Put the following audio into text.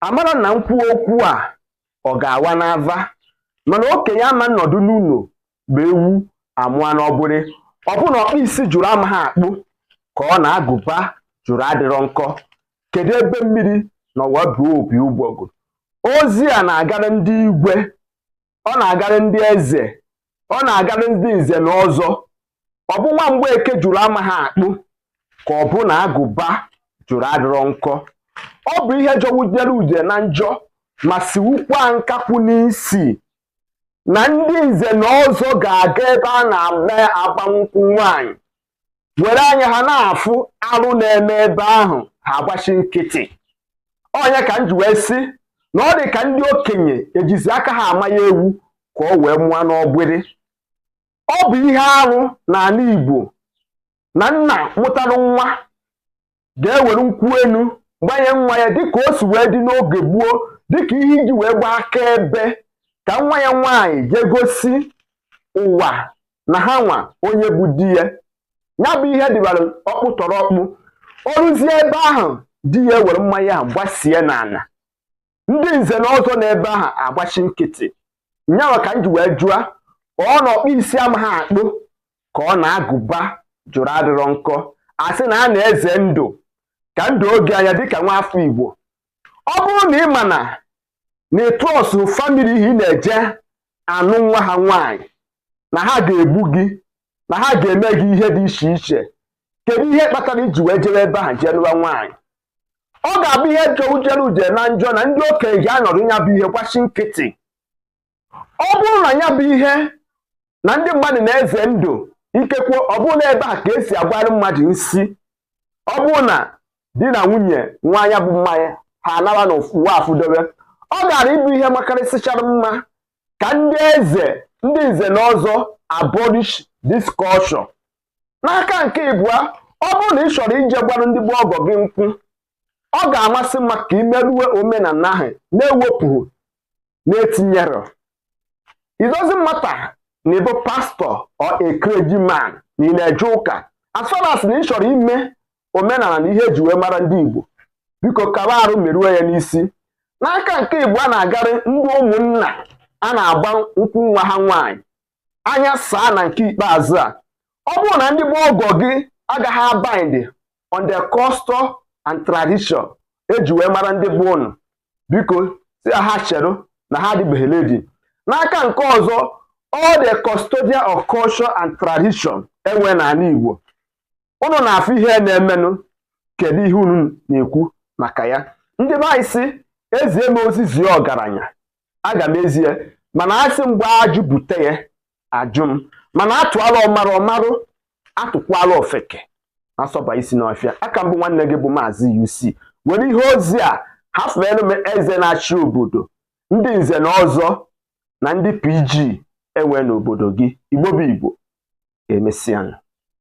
amara na m kwuo okwu a ọ ga-awa n'ava mana okenye ama nnọdụ n'ụlọ bụ ewu amụa n'ọgbịrị ọ bụ na ọkpụ isi jụrụ amaghị akpụ ka ọ na agụba jụrụ adịrọ nkọ kedu ebe mmiri nọ wee ba opi ụgbọgụ ozi a na-agara ndị igwe ọ na-agarị ndị eze ọ na-agarị ndị nze na ọzọ ọ bụ nwa Mgbeke jụrụ amaghị akpụ ka ọ bụ na agụba jụrụ adịrọ nkọ ọ bụ ihe jọwujere udene njọ ma siwukwa nkakwụ n'isi na ndị nze na ọzọ ga-aga ebe a na-eme agbamnkwụ nwaanyị were anya ha na-afụ arụ na-eme ebe ahụ ha agbachi nkịtị ọ nya ka m ji wee sị na ọ dị ka ndị okenye ejizi aka ha ama ya ewu ka ọ wee mụọ n'ọgbịrị ọ bụ ihe arụ n'ala Igbo na nna mụtara nwa ga-ewere nkwụ enu gbanye nwa ya dịka o si wee dị n'oge gboo dịka ihe e ji wee gbaa akaebe ka nwa ya nwaanyị jee gosi ụwa na ha nwa onye bụ di ya ya bụ ihe dịbara ọkpụtọrọkpụ o ruzie ebe ahụ di ya ewere mmanya ahụ gbasie n'ala ndị nze na ọzọ n'ebe ahụ agbachi nkịtị nya nwa ka m ji wee jụa ọ na ọkpụ isi amaghị akpụ ka ọ na agụba jụrụ adịrọ nkọ a sị na a na-eze ndụ ka ndụ oge anya dịka nwa afọ Igbo ọ bụrụ na ị ma na na ị trustghị family ahụ ị na-eje anụ nwa ha nwaanyị na ha ga-egbu gị na ha ga-eme gị ihe dị iche iche kedu ihe kpatara i ji wee jere ebe ahụ jee lụwa nwaanyị ọ ga-abụ ihe jọwujere udene njọ na ndị okenye ga-anọdụ ya bụ ihe gbachi nkịtị ọ bụrụ na ya bụ ihe na ndị mmadụ na-eze ndụ ikekwe ọ bụrụ na ebe a ka e si agbara mmadụ nsi ọ bụrụ na di na nwunye ṅụa nya bụ mmanya ha anara na ụwa afụdobe ọ gaara ịbụ ihe makarịsịchara mma ka ndị eze ndị nze na ọzọ abolish this culture n'aka nke ịbụa ọ bụrụ na ị chọrọ ije gbara ndị bụ ọgọ gị nkwụ ọ ga-amasị mma ka i merue omenala ahụ na-ewepụghị na-etinyerọ it doesn't matter na ị bụ pastor or a clergyman na ị na-eje ụka as far as na ị chọrọ ime omenala na ihe e ji wee mara ndị Igbo biko kaba arụ merue ya n'isi n'aka nke ịbụa na-agarị ndị ụmụnna a na-agba nkwụ nwa ha nwaanyị anya saa na nke ikpeazụ a ọ bụrụ na ndị bụ ọgọ gị agaghị abide on the custom and tradition e ji wee mara ndị be ụnụ biko sị ha chere na ha adịbeghị ready n'aka nke ọzọ all the custodian of culture and tradition e nwe n'ala Igbo ụnụ na-afụ ihe na-emenụ kedu ihe unu na-ekwu maka ya ndị be anyị sị ezie m ozi zie ọgaranya aga m ezie mana asị m gbaa ajụ bute ya ajụ m mana atụala ọmarụ ọmarụ atụkwala ofeke asọba isi n'ọfịa aka m bụ nwanne gị bụ maazị UC were ihe ozi a hafere m eze na-achị obodo ndị nze na ọzọ na ndị PG enwe n'obodo gị igbo bụ igbo emesịa